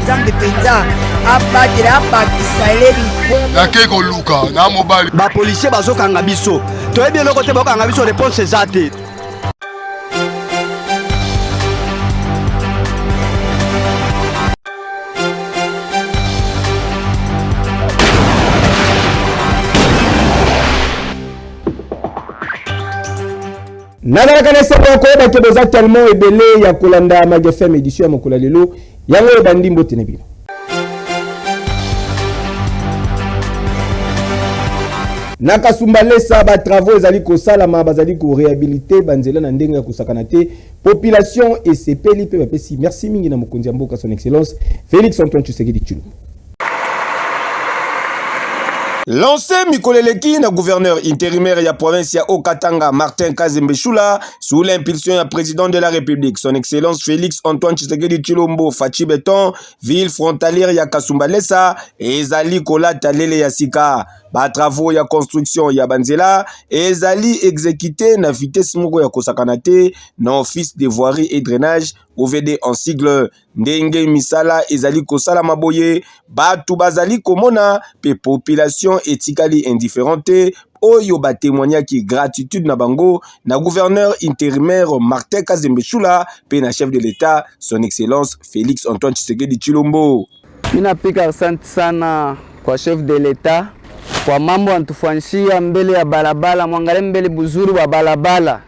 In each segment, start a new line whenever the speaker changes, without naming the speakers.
nzambe mpenza abatela abakisa eleli nakei koluka
na mobali bapolisier bazokanga
biso toyebi eloko te bakokanga biso reponse eza te
nazalaka na esengo ya koyeba ke boza tellement ebele ya kolanda magfm édition ya mokolo ya lelo yango oyo bandi mbote na bino na kasumba lesa batravaux ezali kosalama bazali korehabilite banzela na ndenge ya kosakana te population esepeli mpe bapesi merci mingi na mokonzi ya mboka son excellence félix antoine tshisekedi tshilombo Lancé mikolo eleki na gouverneur intérimaire ya province ya Haut-Katanga Martin Kazembe Shula sous l'impulsion ya président de la République son excellence Félix Antoine Tshisekedi Tshilombo Fatshi Beton ville frontalière ya Kasumbalesa ezali kolata lele ya sika ba travaux ya construction ya banzela ezali exécuté na vitesse moko ya kosakana te na office de voirie et drainage OVD en sigle Ndenge misala ezali kosalama boye, bato bazali komona pe population etikali indifferent te oyo ba temoignaki gratitude na bango na gouverneur interimaire Martin Kazembe Shula pe na chef de l'Etat son excellence Felix Antoine Tshisekedi Tshilombo. Ninapika
asante sana kwa chef de l'Etat kwa mambo antufanyishia mbele ya balabala, mwangalie mbele buzuri bwa balabala.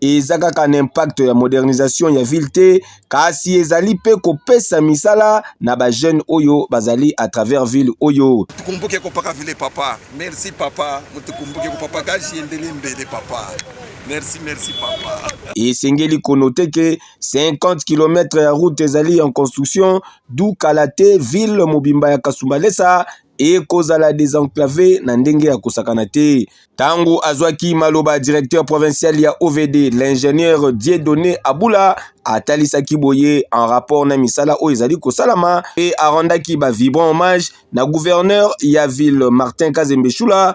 eza kaka na impact ya modernisation ya ville te kasi ezali mpe kopesa misala na bajeune oyo bazali à travers ville oyo tukumbuke kopaka ville
papa merci papa mutukumbuke kopapa kashi endele mbele papa merci merci papa esengeli
konote ke 50 km ya route ezali en construction du kala te ville mobimba ya kasumbalesa ekozala desenclave na ndenge ya kosakana te. Tango azwaki maloba, directeur provincial ya OVD, l'ingénieur Dieudonne Abula atalisaki boye en rapport na misala oyo ezali kosalama mpe arendaki ba vibrant hommage na gouverneur ya ville Martin Kazembe Shula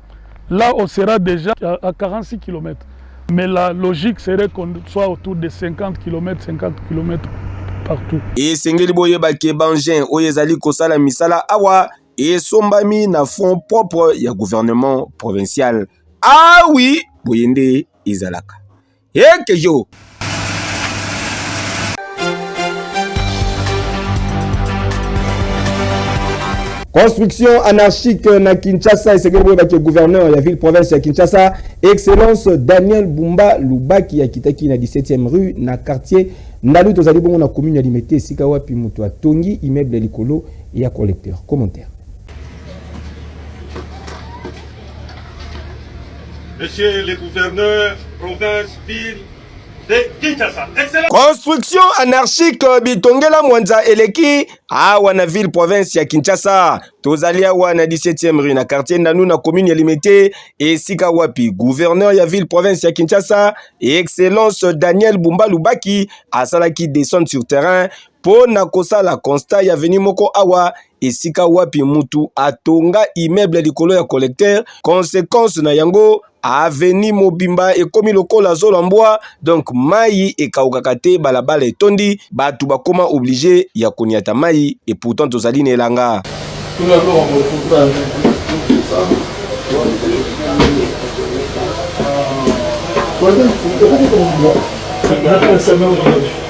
Là, on sera déjà à 46 km. Mais la logique serait qu'on soit autour de 50 km, 50 km partout. Et Sengeli
Boyeba Kebangen, Oyezali Kosala Misala Awa, et Sombami na fonds propre ya gouvernement provincial. Ah oui, Boyende Izalaka. Eke yo. Construction anarchique na Kinshasa esengeli koyebaki gouverneur ya ville province ya Kinshasa excellence Daniel Bumba Lubaki akitaki na 17e rue na quartier Ndalu tozali bongo na commune ya Limete esika wapi moto atongi immeuble likolo ya collecteur. Commentaire.
Monsieur le gouverneur, province, ville,
Construction
anarchique
euh, bitongela mwanza
eleki
awa na ville province ya Kinshasa. Tozali awa na 17e rue na quartier Ndanu na commune ya Limete, esika wapi gouverneur ya ville province ya Kinshasa, excellence Daniel Bumba Lubaki asalaki descente sur terrain mpo na kosala constat ya avenue moko awa esika wapi mutu atonga immeuble likolo ya collecteur consequence na yango aveni mobimba ekomi lokola zola mbwa donc mai ekaukaka te balabala etondi bato bakoma oblige ya konyata mai et pourtant tozali na elanga Thank you.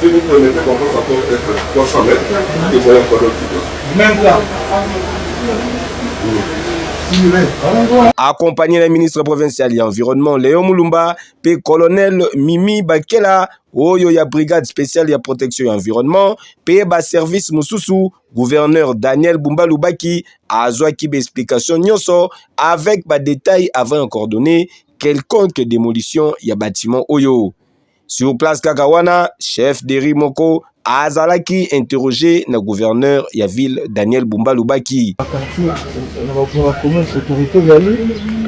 Si vous prenez des bonbons, ça peut être 300
mètres, et
voilà quoi d'autre Même là. Accompagné na ministre provincial ya environnement Léon Mulumba pe colonel Mimi Bakela oyo ya brigade spéciale ya protection ya environnement pe ba service mosusu gouverneur Daniel Bumba Lubaki azwaki ba explication nyonso avec ba détails avant ya coordonner quelconque démolition ya bâtiment oyo Sur place kaka wana chef de rue moko azalaki interroger na gouverneur ya ville Daniel Bumba alobaki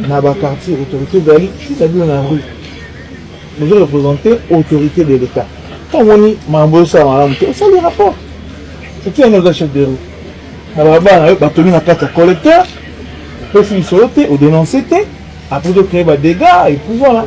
na ba quartier autorité ezali c'est-à-dire na rue bozo représenter autorité de l'État to omoni mambo osala malamu te osali rapport soki yango oza chef de rue na balabala na yo batomi na kati ya collecteur pesi lisolo te odenonce te après tocree badégats et puis voilà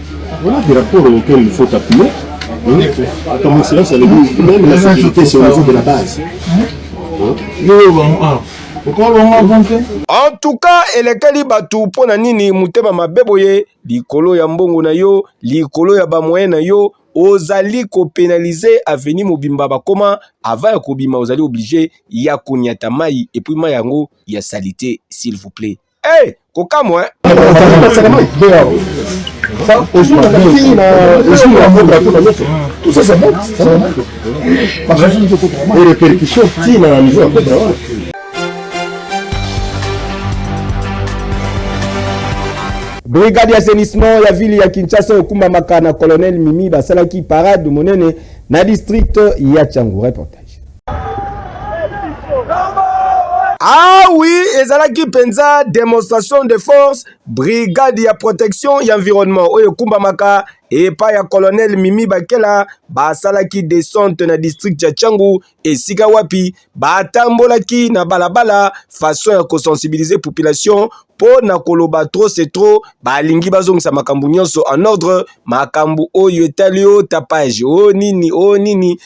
Voilà des rapports auxquels il faut appuyer. Comme excellence avait dit, même la sécurité, c'est au niveau de
la base. En tout cas, elekeli bato mpo na nini motema mabe boye likolo ya mbongo na yo, likolo ya bamoyen na yo, ozali kopenalize aveni mobimba bakoma ava ya kobima ozali oblige ya konyata mai epuis mai yango ya salite s'il vous plaît. Hey, eh, kokamwa hein. Tout ça, c'est
bon. Et les percussions, si, dans la maison,
brigade ya assainissement ya ville ya kinshasa okumbamaka na colonel mimi basalaki parade monene na district ya changu reporter Ah oui, ezalaki penza demonstration de force brigade ya protection ya environnement oyo ekumbamaka epa ya colonel Mimi Bakela basalaki descente na district ya Changu esika wapi batambolaki na balabala façon ya kosensibiliser population mpo na koloba trop c'est trop balingi bazongisa makambo nyonso en ordre makambo oyo etali o tapage o nini o nini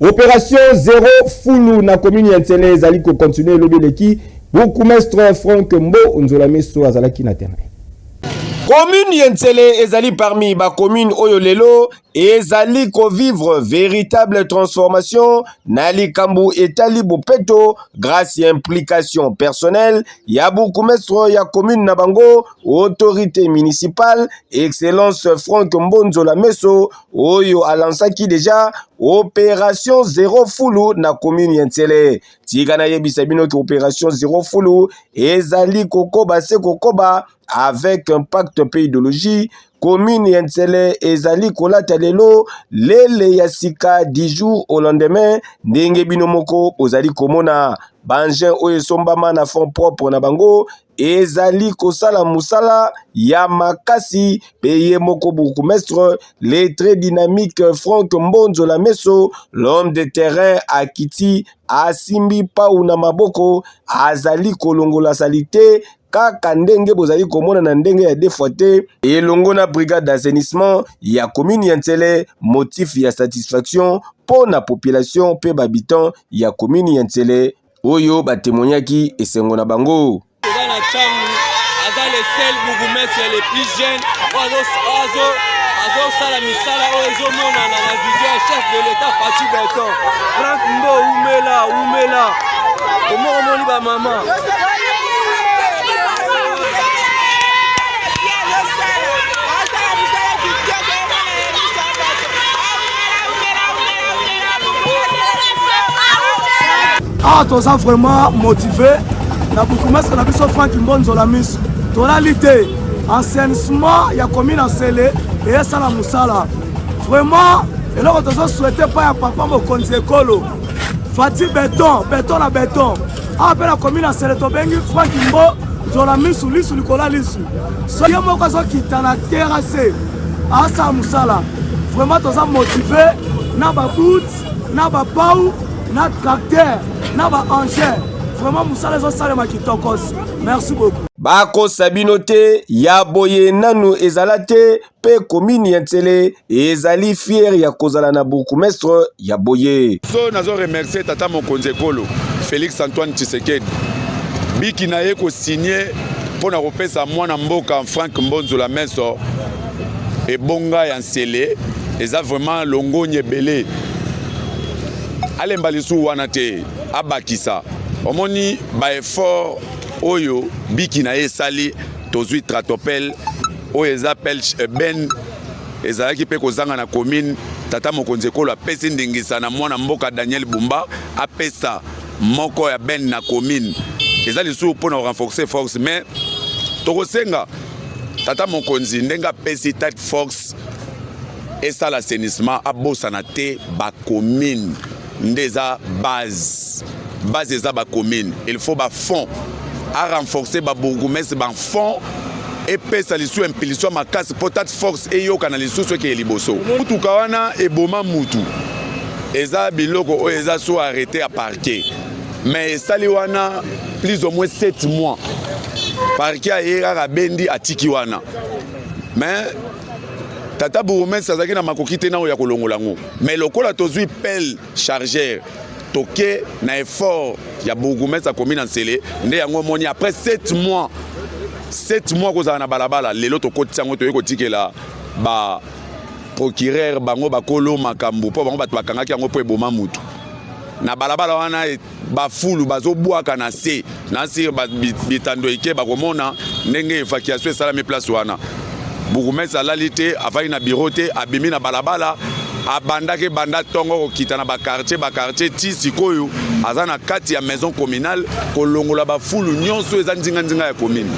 Operation zero fulu na commune ya Nsele ezali ko continuer elobi eleki bourgmestre Frank Mbo Nzola Miso azalaki na terrain. Commune ya Nsele ezali parmi ba commune oyo lelo ezali ko vivre véritable transformation na likambo etali bopeto grâce ya implication personnelle ya bourgmestre ya commune na bango Autorite municipale Excellence Franck Mbonzo Lameso oyo alansaki deja operation zero fulu na commune ya Nsele. Tika nayebisa bino ke operation zero fulu ezali kokoba se kokoba avec impact mpe ideologie commune ya Nsele ezali kolata lelo lele ya sika du jour au lendemain ndenge bino moko bozali komona bangin oyo esombama na fond propre na bango ezali kosala musala ya makasi pe ye moko bourgmestre le très dynamique Franck Mbonzo la Meso l'homme de terrain akiti asimbi pau na maboko azali kolongola salite kaka ndenge bozali komona na ndenge ya defwa te elongo na brigade d'assainissement ya commune ya Nsele motif ya satisfaction mpo na population mpe babitant ya commune ya Nsele oyo batemonyaki esengo na bango.
azosala misala oyo ezomonana na vision ya chef de l'etat faci beton frank mbo umela umela omoko omoni bamama
awa ah, toza vraiment motive na bukumastre na biso frank mbonzola miso tolali te enseignement ya commune nsele eyesala mosala vraiment eloko tozo souhaite mpa ya papa mokonzi ekolo fati beton beton na beton awa ah, mpe na commune nsele tobengi frank mbo nzola misu lisu likolo ya lisu so ye moko azokita na terase asala mosala vraiment toza motive na baboot na bapau na tracteur na baengin vraiment mosala ezosalema kitokos merci beaucoup bakosa bino
te ya boye nanu ezala te mpe komini ya nsele ezali fiere ya kozala na bourgmestre ya boye so nazo remercie
tata mokonzi ekolo félix antoine tshisekedi biki na ye kosigne mpo na kopesa mwana mboka Frank Mbonzo la Meso ebonga ya nsele eza vraiment longonya ebele alemba lisusu wana te abakisa omoni baeffort oyo biki na ye esali tozwi tratopel oyo eza pelche eh, ben ezalaki mpe kozanga na commune tata mokonzi ekolo apesi ndingisa na mwana mboka daniel bumba apesa moko ya bene na commune eza lisusu mpo na renforcer force mais tokosenga tata mokonzi ndenge apesi tate force esala assainissement abosana te bacommune nde eza base base eza bacommune il faut bafonds a renforcer ba bourgoumestre ba fonds epesa lisusu impulsion makasi mpo tat force eyokana lisusu ekeye liboso motuka wana eboma mutu eza biloko oyo eza so arrete ya parquet mais esali wana plus ou moins 7 mois parquet aye kaka bendi atiki wana mais tata bourgmestre azalaki na makoki te nao ya kolongola yango mais lokola tozwi pele chargeur toke na effort ya bourgoumestre ya commune ya nsele nde yango omoni après 7 mois 7 mois kozala na balabala lelo tokotisa yango toyei kotikela ba procureur bango bakolo makambo mpo bango bato bakangaki yango mpo eboma motu na balabala wana bafulu bazobwaka na se na sire bitando ike bakomona ndenge evacuation esalami place wana bourgmestre alali te afandi na biro te abimi na balabala abandaki ebanda ntongo kokita na bakartier bakartier ti sikoyo aza na kati ya maison communale kolongola bafulu nyonso eza nzinganzinga ya commune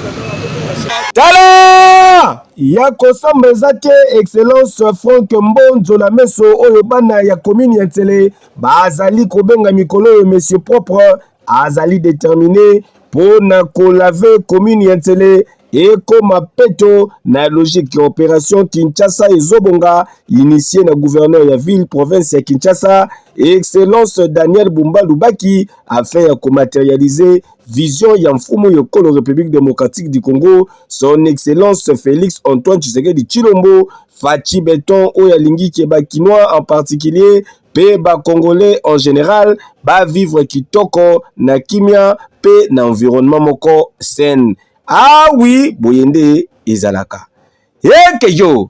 tala
ya kosamba eza te excellence frank mbonzo na meso oyo bana ya commune ya nsele bazali kobenga mikolo oyo monsieur propre azali determine mpo na kolave commune ya Nsele ekoma peto na logique ya operation Kinshasa ezobonga initie na gouverneur ya ville province ya Kinshasa excellence Daniel Bumba Lubaki afin ya komaterialize vision ya mfumu yokolo République démocratique du Congo son excellence Félix Antoine Tshisekedi Tshilombo Fatshi Beton oyo alingi ke ba Kinois en particulier pe ba congolais en general ba vivre kitoko na kimia pe na environnement moko sain. Ah oui, boye nde ezalaka. Heke yo!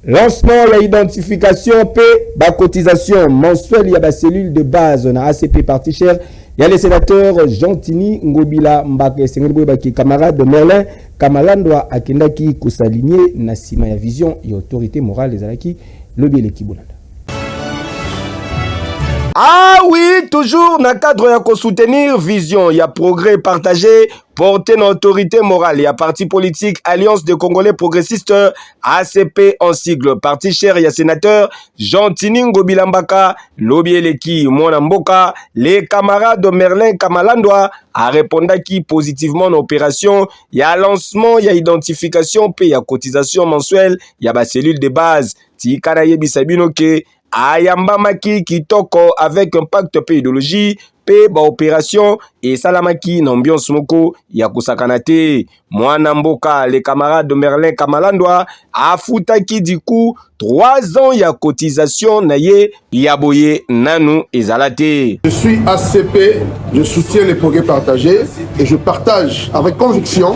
Lancement ya identification mpe ba cotisation mensuelle ya ba cellule de base na ACP parti cher ya le sénateur Gentini Ngobila Mbaka esengeli boyebaki camarade Merlin Kamalandwa akendaki kosalinye na nsima ya vision ya autorité morale ezalaki lobi eleki bolanda Ah oui, toujours na cadre ya ko soutenir vision ya progrès partagé porte na autorité morale ya parti politique Alliance des Congolais Progressistes ACP en sigle parti cher ya sénateur Jean Tini Ngobila Mbaka lobi eleki mwana mboka le camarade Merlin Kamalandwa arepondaki positivement na opération ya lancement ya identification mpe ya cotisation mensuelle ya ba cellule de base tika nayebisa bino ke ayambamaki kitoko avec impact mpe ideologie mpe baoperation esalamaki na ambiance moko ya kosakana te. Mwana mboka le camarade Merlin Kamalandwa afutaki diku 3 ans ya cotisation na ye ya boye nanu ezala te. Je suis ACP,
je soutiens les progrès partagés et je partage avec conviction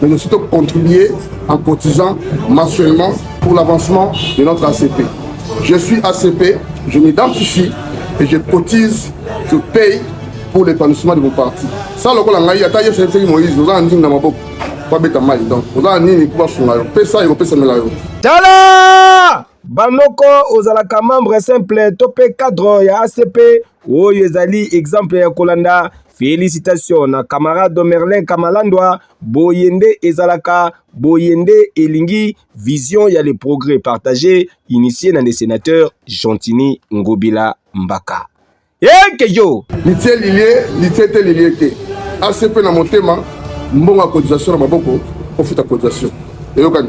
mais nous surtout contribuer en cotisant mensuellement pour l'avancement de notre ACP. Je suis ACP, je m'identifie et je cotise, je paye pour l'épanouissement de mon parti. Ça, lokola ngai ata yesu ayebisaki moïse oza na ndingi na maboko po abeta mai donc oza na nini po basunga yo pesa ekopesamela yo tala
bamoko ozalaka membre simple to mpe cadre ya acp Oyo ezali exemple ya kolanda. Felicitation na camarade Merlin Kamalandwa, boye nde ezalaka, boye nde elingi vision ya le progrès partagé initié na le sénateur Gentini Ngobila Mbaka. Yeke yo! Litie lilie,
litie te lilie te. ACP na motema, mbongo ya cotisation na maboko, ofuta cotisation. Eyokani?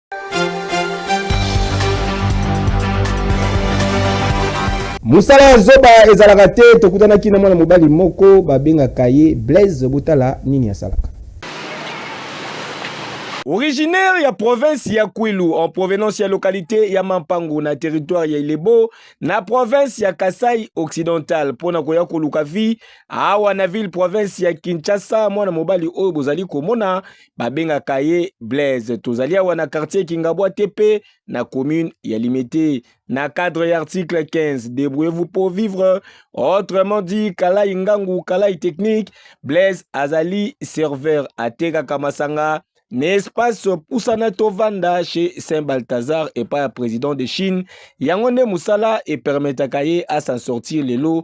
mosala ya zoba ezalaka te tokutanaki na mwana mobali moko babengaka ye blaise botala nini asalaka Originaire ya province ya Kwilu en provenance ya localité ya Mampangu na territoire ya Ilebo na province ya Kasai occidental mpo na koya koluka vie awa na ville province ya Kinshasa mwana mobali oyo bozali komona babengaka ye Blaise. Tozali awa na quartier Kingabwa TP na commune ya Limete. Na cadre ya article 15, débrouillez-vous pour vivre. Autrement dit, Kalai Ngangu, Kalai technique, Blaise azali serveur atekaka masanga na espace pusana tovanda chez Saint Balthazar epai ya président de Chine. Yango nde mosala epermetaka ye asan sortir lelo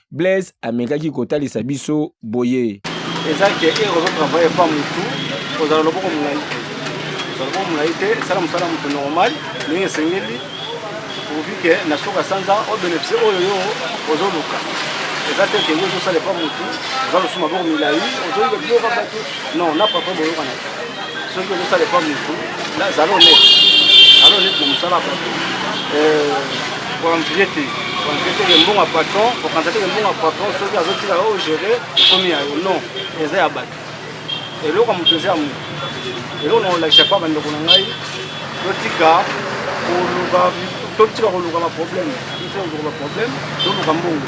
Blaise amekaki kotalisa biso boye. Eza ke ere
ozo travaille pa mutu kozala loboko molai te kozala loboko molai te esala mosala moto normal ndenge esengeli pourvu ke na suka sanza o beneficie oyo yo ozoluka eza te ke yo ozosala epa motu oza losu maboko milai ozoyeba biloko bato non na papa boyokana te soki ozosala epa motu zala honnête zala honnête na mosala bato koanvie te koanvie te embongo ya patron kokanisa te embongo ya patron soki azotika yo ogere ekomi ya yo non eza ya bato eloko ya moto eza ya moto eloko na kolakisa mpa bandeko na ngai totika koluka totika koluka baproblème totika koluka baproblème toluka mbongo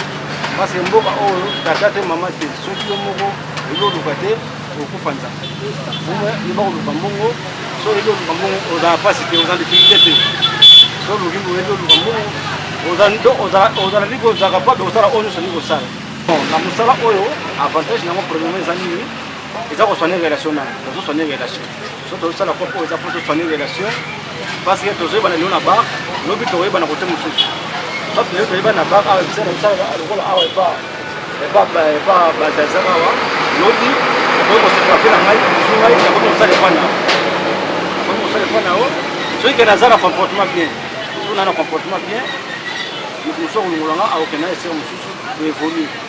parce que mboka oyo tata te mama te soki yo moko eloluka te okokufa nzala yeba koluka mbongo so oyebi oluka mbongo ozala mpasi te oza difficulté te so oluki oyebi oluka mbongo ozala ndiki ozalaka pape kosala oyo nyonso ndiki kosala na mosala oyo avantage nango premierement eza nini eza koswane relation na ozoswane relation so tozosala po oyo eza po tosani relation parce que tozoyebana lelo na bar lobi tokoyebana kote mosusu so lelo toyebana na bar awa bisala bisala lokola awa epa epa epa baltazar awa lobi okoki kosepela pe na ngai mosu ngai nakoki kosala epa na okoki kosala epa na yo soki kende aza na comportement bien tozona na comportement bien moto mosusu akolongola nga akokenda esere mosusu evolue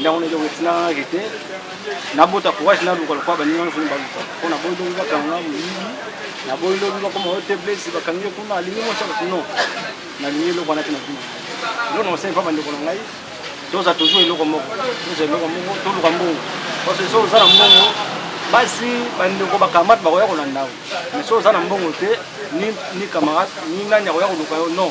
ndako nede wetina rete na bota courage na luka lokwa baninga na funi baluka mpo na boyi lobi bakanga moyibi na boyi lobi bakoma ote blesi bakangi ye kuna alingi mosa bati non nalingi eloko wana te na bino elo na osali mpa bandeko na ngai toza toujours eloko moko toza eloko moko toluka mbongo parce que so oza na mbongo basi bandeko bakamate bakoya kolanda yo mais so oza na mbongo te ni camarade ni nani akoya koluka yo non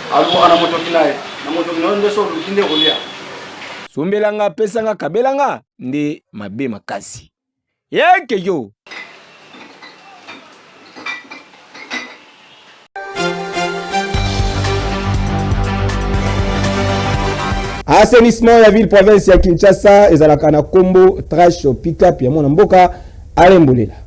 Alukaka na motoki na ye. Na motoki na yo nde so oluki nde kolia. Sombela
nga, pesa nga, kabela nga nde mabe makasi. Yeke yo. assainissement ya ville province ya kinshasa ezalaka na nkombo trash pickup ya mwana mboka alembolela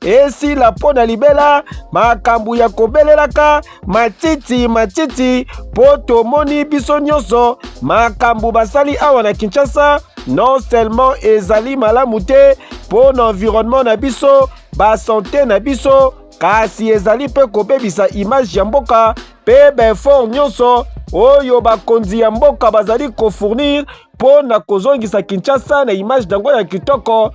esila mpo na libela makambo ya kobelelaka matiti matiti mpo tomoni biso nyonso makambo basali awa na kinshasa non seulement ezali malamu te mpo na environnement na biso basante na biso kasi ezali mpe kobebisa image ya mboka mpe baefort nyonso oyo bakonzi ya mboka bazali kofournir mpo na kozongisa kinshasa na image na yango ya kitoko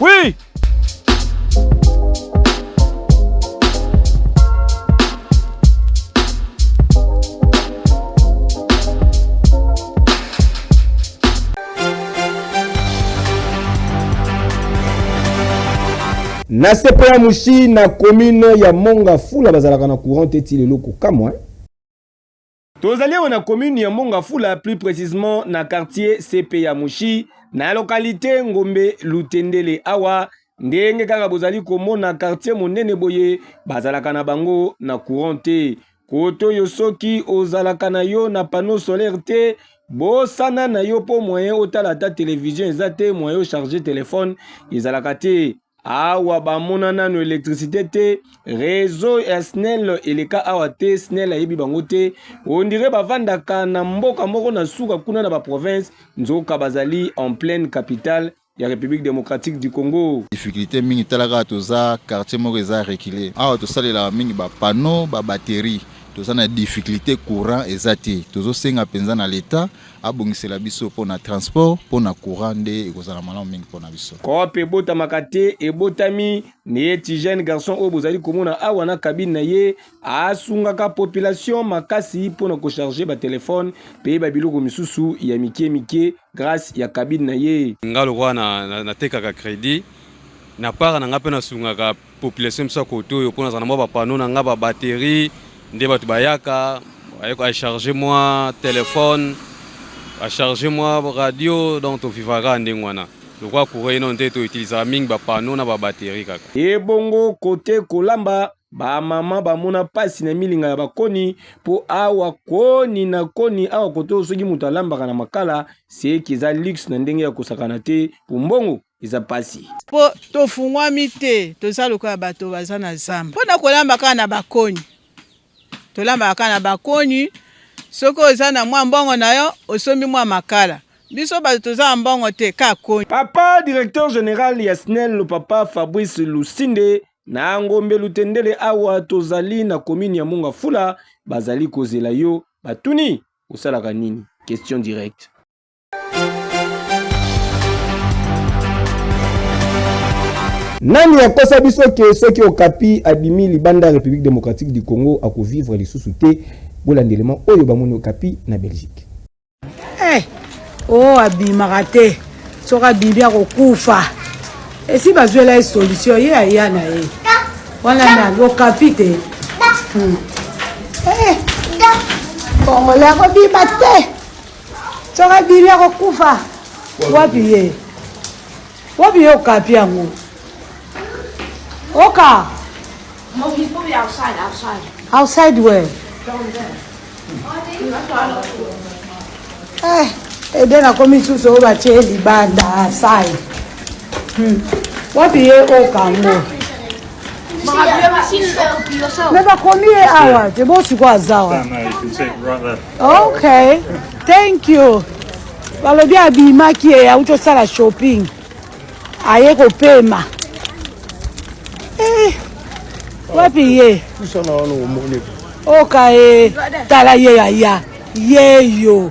Oui
na sepo ya mosi na commune ya monga fula bazalaka na courant te ti lelo kokamwa
Tozali awa na commune ya Mbongafula, plus precisement na quartier CP ya Mushi, na localité Ngombe Lutendele awa ndenge kaka bozali komona quartier monene boye bazalaka na bango na courant te koto yo soki ozalaka na yo na panneau solaire te bosana na yo mpo moyen otala ata televizio eza te moyen ocharge telefone ezalaka te awa bamona nano electricité te réseau ya snel eleka awa te snel ayebi bango te ondire bavandaka na mboka moko na suka kuna na baprovince nzoka bazali en pleine capitale ya république démocratique du congo difficulté mingi talaka
toza quartier moko eza recule awa tosalelaka mingi bapanneau babatterie toza na difficulté courant eza te tozosenga mpenza na leta abongisela biso mpo na transport mpo na courant nde ekozala malamu mingi mpo na biso coop ebotamaka
te ebotami neye ti jeune garçon oyo bozali komona awa na kabine na ye asungaka population makasi mpo na kocharge batelefone mpe babiloko misusu ya mikie mikie grâce ya kabine na ye nga lokola
natekaka na, na, na credit na part na nga mpe nasungaka population biso ya kote oyo mpo nazala na mwa bapano na ngai babatterie nde bato bayaka acharge mwa telefone acharge mwa radio donc tovivaka ndenge wana lokola courant ino nde toutilisaka mingi bapano na babatterie kaka ebongo
kote kolamba bamama bamona mpasi na milinga ya bakoni mpo awa koni na koni awa kote oyo soki moto alambaka na makala seki eza luxe na ndenge ya kosakana te mpo mbongo eza pasi po tofungwami
te toza lokola bato baza na zamba mpo na kolamba kaka na bakoni tolambaka kaka na bakoni soki oza na mwa mbongo na yo osombi mwa makala biso bato toza na mbongo te kaka koni papa directeur
general ya snel papa fabrice lusinde na ngombe lutendele awa tozali na komini ya munga fula bazali kozela yo batuni osalaka nini question directe
Nani akosa biso ke soki Okapi abimi libanda ya République démocratique du Congo akovivre lisusu te bolanda elema oyo bamoni Okapi na Belgique. Hey, eh, o
oh, abimaka te soki abimi akokufa esi bazwela ye solution ye aya na ye wana na Okapi te hmm. eh, kongole akobima te Soka bili akokufa wapi ye wapi ye okapi yango oka
outside
where eh, ede nakomi susu oyo batye libanda asai hmm. wapi ye oka ngo
me bakomi ye awa
te bosiko azawa
ok
thank you balobi abimaki ye auti osala shopping aye kopema eh, wapi ye oka ye tala ye yaya yeyo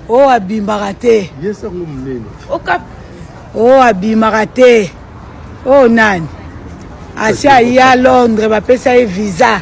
o oh, abimaka te o oh, abimaka te o oh, nani asi aye a londres bapesa ye visa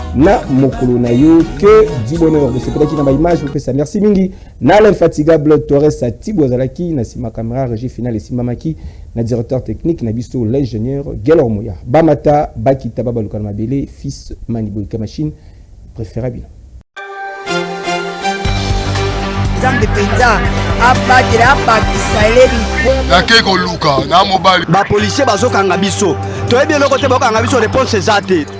na mokolo na yo que dibonheur bosepelaki na baimage bopesa merci mingi na l'infatigable torres tibo azalaki na nsima camera régie finale esimbamaki na directeur technique na biso l'ingénieur gelor moya bamata bakita babaluka na mabele fils maniboyika machine préféra bino
nzambe mpenza abatela abakisa eleli nakei koluka
na mobali bapolisier bazokanga biso toyebi
eloko
te bakokanga biso reponse
eza
te